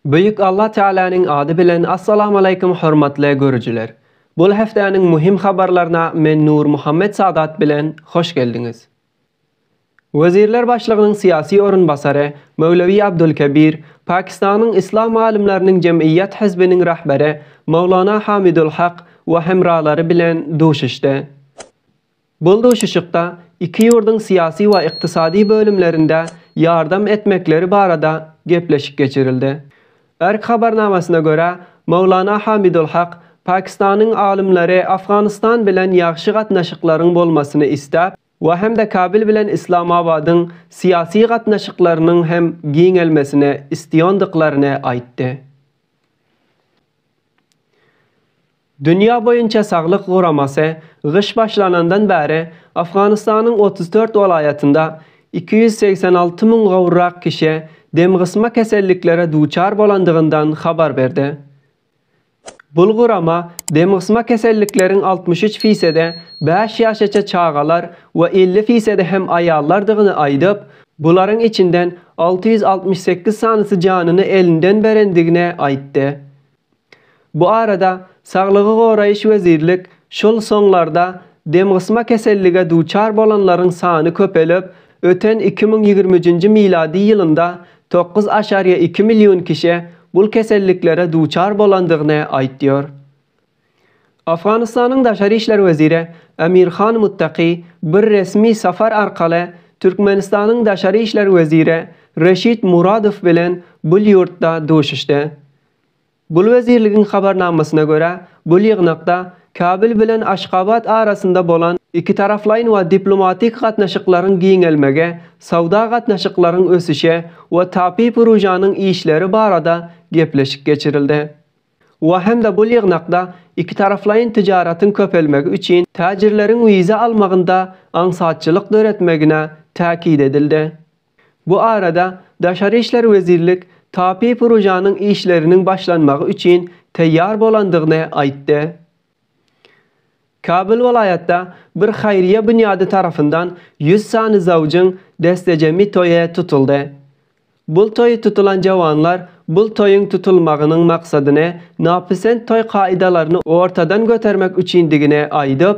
Büyük Allah Tealanyň ady bilen Assalamu Aleyküm hormatly görüjiler. Bul hefteniň muhim habarlaryna men Nur Muhammet Sadat bilen hoş geldiňiz. Wezirler başlygynyň syýasy orunbasary Möwlewi Abdulkebir, Pakistanyň Yslam alymlarynyň jemgyýet hizbiniň rahberi Mowlana Hamidul Hak we hemralary bilen duşuşdy. Bul duşuşykda iki ýurduň syýasy we ykdysady bölümlerinde ýardam etmekleri barada gepleşik geçirildi. Erk habarnamasyna görä, Mowlana Hamidul Hak, Pakistanyň alymlary Afganystan bilen ýagşy gatnaşyklaryň bolmasyny isläp, we hem-de Kabil bilen Islamabadyň syýasy gatnaşyklarynyň hem giňelmesini istiýondyklaryny aýtdy. Dünýä boýunça saglyk guramasy gyş başlanandan bäri Afganystanyň otuz dört welaýatynda iki ýüz segsen alty müň gowrak kişi demgysma keselliklere duçar bolandygyndan habar berdi. Bul gurama demgysma kesellikleriň altmyş üç fisede bäş ýaşaça çagalar we elli fisede hem aýallardygyny aýdyp, bularyň içinden alty ýüz altmyş sekiz sanysy janyny elinden berendigini aýtdy. Bu arada Saglygy goraýyş wezirlik şol soňlarda demgysma kesellige duçar bolanlaryň sany köpelip, Öten iki müň ýigrimi üçünji milady ýylynda tokuz aşarýa iki million kişe bul keselliklere duçar bolandygyny aýtýar. Afganystanyň daşary işler weziri Amir Khan Muttaqi bir resmi sapar arkaly Türkmenistanyň daşary işler weziri Reşid Muradow bilen bul ýurtda duşuşdy. Gul wezirligiň habarnamasyna görä, bul ýygnakda Kabul bilen Aşgabat arasynda bolan ikitaraplaýyn we diplomatik gatnaşyklaryň giňelmegi, söwda gatnaşyklaryň ösüşi we tabi prujanyň işleri barada gepleşik geçirildi. We hem-de bul ýygnakda ikitaraplaýyn tijaratyň köpelmegi üçin täjirleriň wiza almagynda aňsatçylyk döretmegine täkit edildi. Bu arada Daşary işler wezirlik tape purojanyň işleriniň başlanmagy üçin taýýar bolandygyny aýtdy. Kabul welaýatda bir haýryýa binýady tarapyndan ýüz sany zawjyň destejemi toýy tutuldy. Bul toýy tutulan jawanlar bul toýuň tutulmagynyň maksadyny napisent toý kaýdalaryny ortadan götermek üçindigini aýdyp,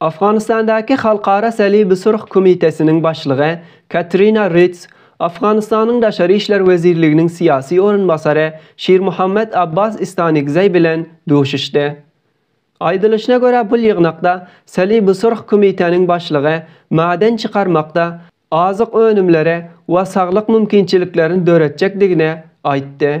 Afganistandaky Halkara Salibi-Surh Komitesiniň başlygy Katrina Rids, Afganistanyň Daşary işler wezirliginiň syýasy orunbasary Şirmuhammed Abbas Istanigzei bilen duşuşdy. Aýdylyşyna görä, bu ýygnakda Salibi-Surh Komiteniň başlygy maden çykarmakda azyk önümleri we saglyk mümkinçiliklerini döretjekdigini aýtdy.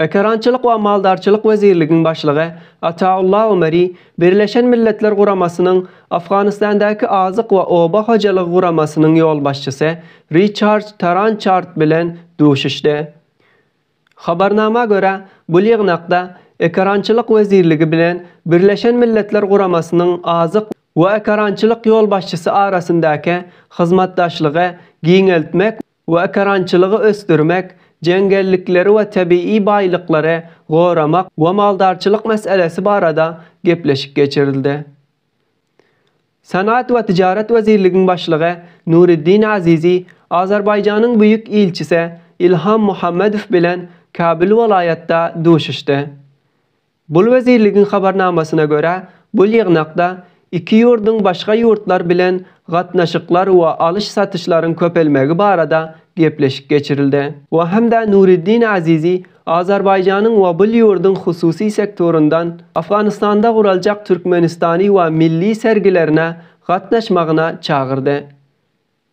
Ekerançylyk we maldarçylyk wezirligiň başlygy Ataulla Omari Birleşen Milletler Guramasynyň Afganistandäki Azyk we oba hojalygy guramasynyň ýolbaşçysy Riçarç Tarançart bilen duşuşdy. Habarnama görä, bu ýygnakda Ekerançylyk wezirligi bilen Birleşen Milletler Guramasynyň Azyk we ekerançylyk ýolbaşçysy arasyndaky hyzmatdaşlygy giňeltmek we ekerançylygy ösdürmek, jeňňellikleri we tebigy baýlyklary goramak we maldarçylyk meselesi barada gepleşik geçirildi. Senagat we tijaret wezirligiň başlygy Nuriddin Azizi Azerbaýjanyň Büýük ilçisi Ilham Muhammedow bilen Kabul welaýatda duşuşdy. Bul wezirligiň habarnamasyna görä, bul ýygnakda iki ýurduň başga ýurtlar bilen gatnaşyklar we alyş-satyşlaryň köpelmegi barada gepleşik geçirildi. We hem-de Nuriddin Azizi Azerbaýjanyň we bul ýurduň hususy sektoryndan Afganistanda guraljak Türkmenistany we milli sergilerine gatnaşmagyna çagyrdy.